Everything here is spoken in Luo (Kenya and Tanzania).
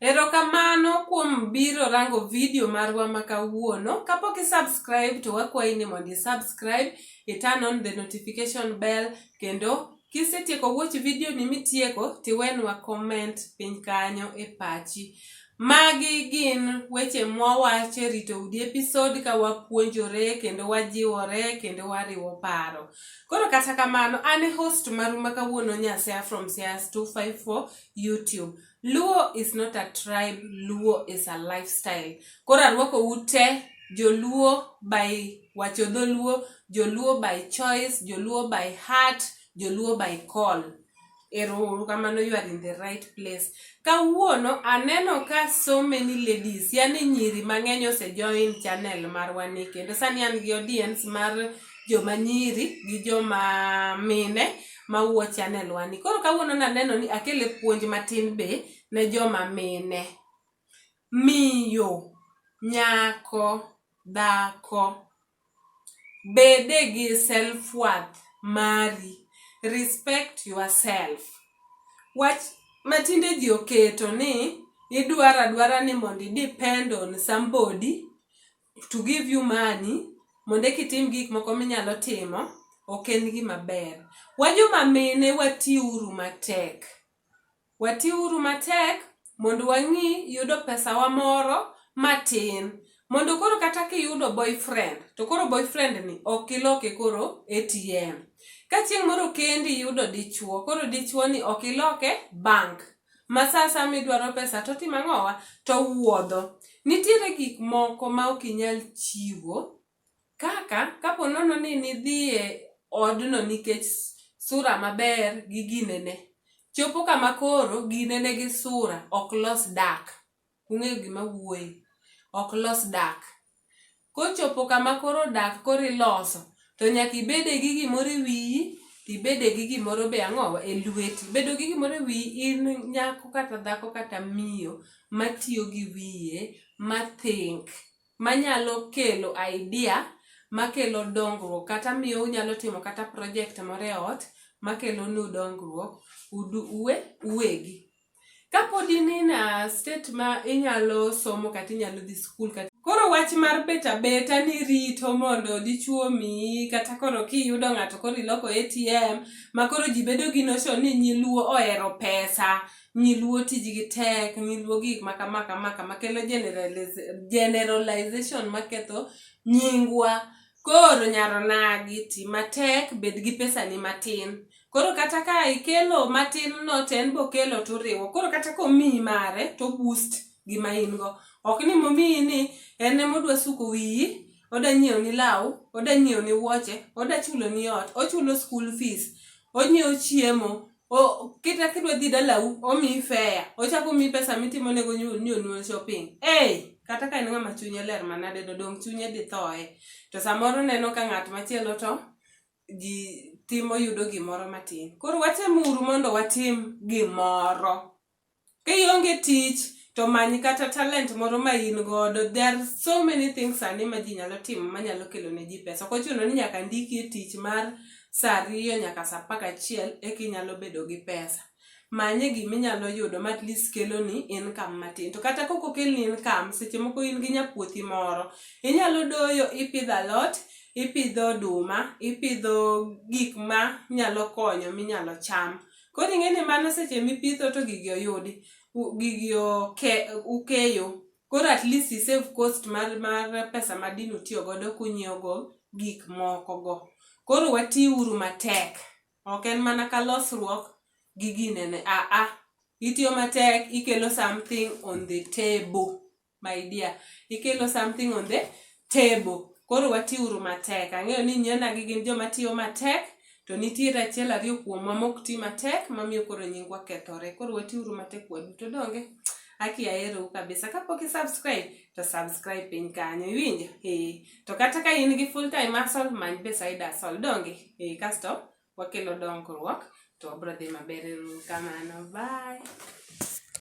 Erokamano kuom biro rango video marwa ma kawuono. Kapok i subscribe to wakwayi ni mondo i subscribe, i turn on the notification bell kendo kisetieko watch video ni mitieko tiwenwa comment piny kanyo e pachi. Magi gin weche mwawacho e rito udi episode ka wapuonjore kendo wajiwore kendo wariwo paro. Koro kata kamano an e host maru ma kawuono Nyasea from Sias 254 YouTube. Luo is not a tribe, Luo is a lifestyle. Koro arwako ute Joluo by wacho dholuo, Joluo by choice, Joluo by heart, Joluo by call. Ero kamano you are in the right place. Kawuono aneno ka so many ladies, yani nyiri mang'eny ose join channel marwa ni kendo sani an gi audience mar joma nyiri gi joma mine ma wuo channel wani. Koro kawuono naneno ni akele puonj matin be ne joma mine. Miyo, nyako, dhako, bede gi self worth mari. Respect yourself. Wach matinde ji oketo ni idwaro adwara ni mondo i depend on somebody to give you money mondo eki itim gik moko minyalo timo ok en gima ber. Wajoma mine watiuru matek, watiuru matek mondo wang'i yudo pesawa moro matin mondo koro kata kiyudo boyfriend to koro boyfriend ni ok iloke koro ATM. Ka chieng' moro kendi iyudo dichuo, koro dichuo ni ok iloke bank ma sa asaya midwaro pesa to otimo ang'owa? To owuodho. Nitiere gik moko ma ok inyal chiwo kaka kapo nono ni nidhi e odno nikech sura maber gi ginene. Chopo kama koro ginene gi sura ok los dak. Ung'eyo gima awuoye. Ok los dak. Kochopo kama koro dak koro iloso, to nyaka ibede gi gimoro e wiyi, to ibede gi gimoro be ang'owa e lweti. Bedo gi gimoro e wiyi in nyako kata dhako kata miyo matiyo gi wiye, ma think, manyalo kelo idea makelo dongruok kata miyo unyalo timo kata project moro e ot makelonu dongruok uwegi. Kapod in in a state ma inyalo somo kata inyalo dhi skul kata koro wach mar bet abeta ni rito mondo dichwo omiyi kata koro kiyudo ng'ato koro iloko ATM ma koro ji bedo gi notion ni nyiluo ohero pesa, nyiluo tijgi tek, nyiluo gik ma kama kama kama kelo generaliz- generalization maketho nyingwa. Koro nyar onagi, ti matek, bed gi pesani matin. Koro kata ka ikelo matin no to en bokelo turiwo. Koro kata komiyi mare to boost gima in go. Ok ni momiyi ni en ema odwa suko wiyi, oda nyiewo ni law, oda nyiewo ni wuoche, oda chulo ni ot, ochulo school fees, onyiewo chiemo, O, kita kidwa dhi dalau omiyi fea ochako omiyi pesa mitimonego nyu- ni onyuol shopping hey, kata ka en ng'ama chunye ler manade to dong' chunye dhi thoye to samoro neno ka ng'at machielo to ji timo yudo gimoro matin koro watemuru mondo watim gimoro Ka ionge tich to many kata talent moro ma in godo. There are so many things sani ma ji nyalo timo ma nyalo kelo ne ji pesa. Ok ochuno ni nyaka ndiki e tich mar sa ariyo nyaka sa apar gachiel eka inyalo bedo gi pesa. Manye gima inyalo yudo ma at least keloni income matin. To kata ka ok okelni income, seche moko in gi nyapuothi moro, inyalo doyo, ipidho alot, ipidho oduma, ipidho gik ma nyalo konyo minyalo cham. Koro ing'e ni mano seche mipitho to gigi oyudi, gigi oke, ukeyo. Koro at least i save cost mar, mar pesa ma dine utiyo godo kunyiewo go gik moko go. Koro wati uru matek. Ok en mana ka losruok gi ginene, a a. Itiyo matek, ikelo something on the table. my dear ikelo something on the table koro watiuru matek ang'eyo ni nyienagi gin joma tiyo matek to nitiere achiel ariyo kuomwa mok ti matek mamiyo koro nyingwa kethore koro watiuru matek waduto donge aki aherou kabisa kapok isubscribe to subscribe piny kanyo iwinjo ee to kata ka in gi full time asol many beside asol donge ee kasto wakelo dongruok to wabro dhi maber uru kamano bye